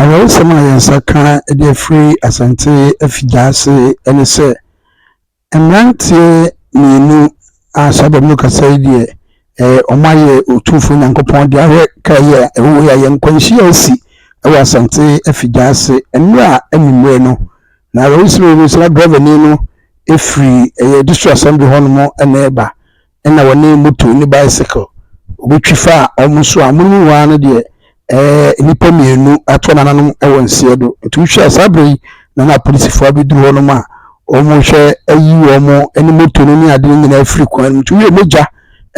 Awerɛhosɛm a yɛn nsa ka de afiri Asante afigya ase ne sɛ mmeranteɛ mmienu a saa baabi no kasa yi deɛ ɛɛ wɔn ayɛ Otumfoɔ Nyankopɔn de ahwɛ ka yi a ɛwɔ yi a yɛn nkwanhyia asi wɔ Asante afigya ase mmerɛ a anwummerɛ no na awerɛhosɛm yi no sɛ na drɛvani no firi ɛyɛ district assembly hɔnom na ɛreba na wɔne moto ne bicycle obi twi faa wɔn so a wɔn mu waa no deɛ ɛɛ nnipa mmienu ato nananom wɔ nseɛ do. Nti wohwɛ a saa berɛ yi na na apolisifoɔ abɛduru hɔnom a wɔhwɛ ayi wɔn ne moto no ne ade no nyinaa afiri kwan no mu. Nti woyɛ mogya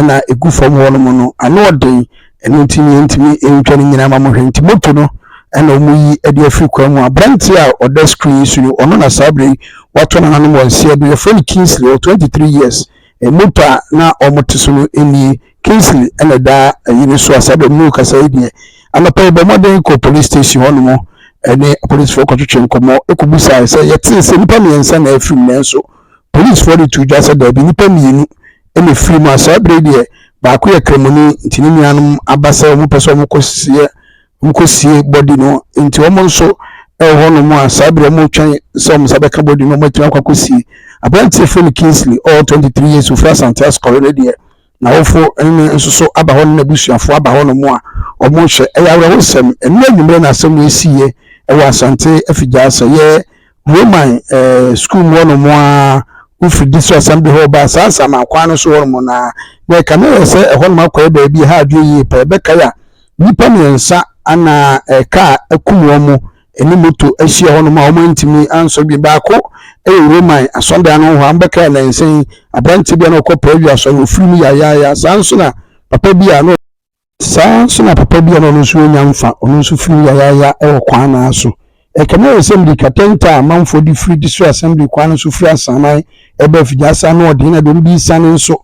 na ɛgu fam hɔnom no ano ɔden ɛno nti ne yɛntumi ntwa no nyinaa ma mohwɛ nti moto no ɛna wɔn yi ɛde afiri kwan mu aberanteɛ a ɔda screen yi so no ɔno na saa berɛ yi wato nananom wɔ nseɛ do yɛfrɛ no Kingsley ɔwɔ 23 years Nnipa a na wɔte so no nie, Kingsley na ɛda ayi no so a saa berɛ mu na ɔkasa yi deɛ, Anɔpa yɛbɔɔ mmɔden kɔɔ police station hɔnom ne apolisifoɔ kɔtwetwee nkɔmmɔ kɔbisaeɛ sɛ yɛtee sɛ nnipa mmiɛnsa na afirim nanso polisifoɔ de too dwa sɛ daabi nnipa mmienu na ɛfirim a saa berɛ yi deɛ baako yɛ Kramoni nti ne nuanom aba sɛ wɔpɛ sɛ wɔkɔsieɛ Wɔkɔsie body no nti wɔn nso ɛwɔ hɔ nom a saa berɛ wɔn retwɛn sɛ wɔn nsa bɛka body no wɔn atumi akɔ akɔsie. Aberanteɛ frɛ no Kingsley ɔwɔ 23 years ofiri Asante Asukɔre no deɛ n'awofo ne nso so aba hɔ ne n'abusuafoɔ aba hɔ nom a wɔn rehwɛ. Ɛyɛ awerɛhosɛm, ɛnnɛ anwummerɛ na asɛm wei siiɛ ɛwɔ Asante Afigya sɛ yɛ Roman sukuu mu hɔnom a, wofi de so asɛm de hɔ baa saa nsaman kwan no so hɔnom no a, na ɛka na ɛyɛ sɛ ɛhɔnom akɔyɛ baabi a ɛha adwene yie paa. Ɛbɛkae a nnipa mmiɛnsa na kaa akum wɔn ne moto ahyia hɔnom a wɔantumi ansɔ bi. Baako yɛ Roman asɔredan no hɔ a mbɛkae nnansa yi aberanteɛ bi a na ɔkɔ Perugia asɔre, ɔfiri mu yaayaaya. Saa nso na papa bi a na Saa ara nso na papa bi a na ɔno nso renya mfa, ɔno nso firii yayaaya wɔ kwan no ara so. Ɛkame wɔ Assembly katanta a amanfoɔ de firi de sɔ Assembly kwan no so firi Asaman ba Afigyaasa no ɔden na dɔm bi resiane nso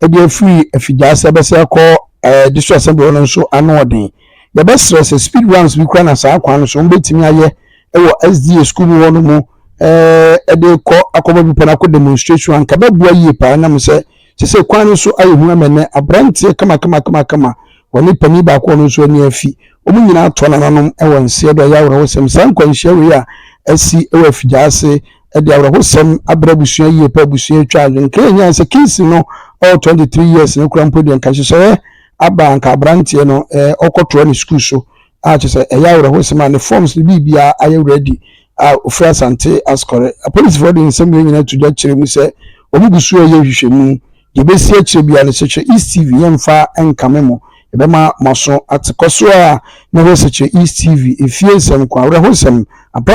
de afiri Afigyaasa bɛsɛ akɔ eh, de sɔ Assembly hɔ no nso ano ɔden. Yɛbɛsrɛ sɛ speed runs bi kora na saa kwan no so wɔbɛtumi ayɛ wɔ SDA school mu hɔ no mu eh, de kɔ akɔbɔ bepɔ no akɔ demonstration anka bɛboa yie paa nam sɛ Kyɛ sɛ kwan no so ayɛ hu ama nnɛ aberanteɛ kamakama-kamakama wɔ ne panin baako a ɔno nso ani afi. Wɔn nyinaa atɔ nananom wɔ nseɛ do. Ɛyɛ awerɛhosɛm. Saa nkwanhyia wei a asi wɔ afigyaase de awerɛhosɛm abrɛ abusua yie paa. Abusua atwa adwene. Nka yɛnyae sɛ Kingsley no ɔwɔ 23 years no koraa mpo deɛ nka nhyehyɛeɛ aba a nka aberanteɛ no ɔkɔtoa ne sukuu so a kyerɛ sɛ ɛyɛ awerɛhosɛm a ne forms ne biribiara ayɛ ready a ofiri Asante Ascore. Apolisifoɔ de nsɛm wei nyinaa to dwa kyerɛ mu sɛ wɔn gu so reyɛ nhwehwɛmu. Deɛ ɛbɛsi akyire biara no, Sekyerɛ East TV yɛmfa nkame mo. Yɛbɛma mo aso ate kɔ so a na ɛhɔ Sekyerɛ East TV, efie nsɛm ko, awerɛhosɛm, apɛn.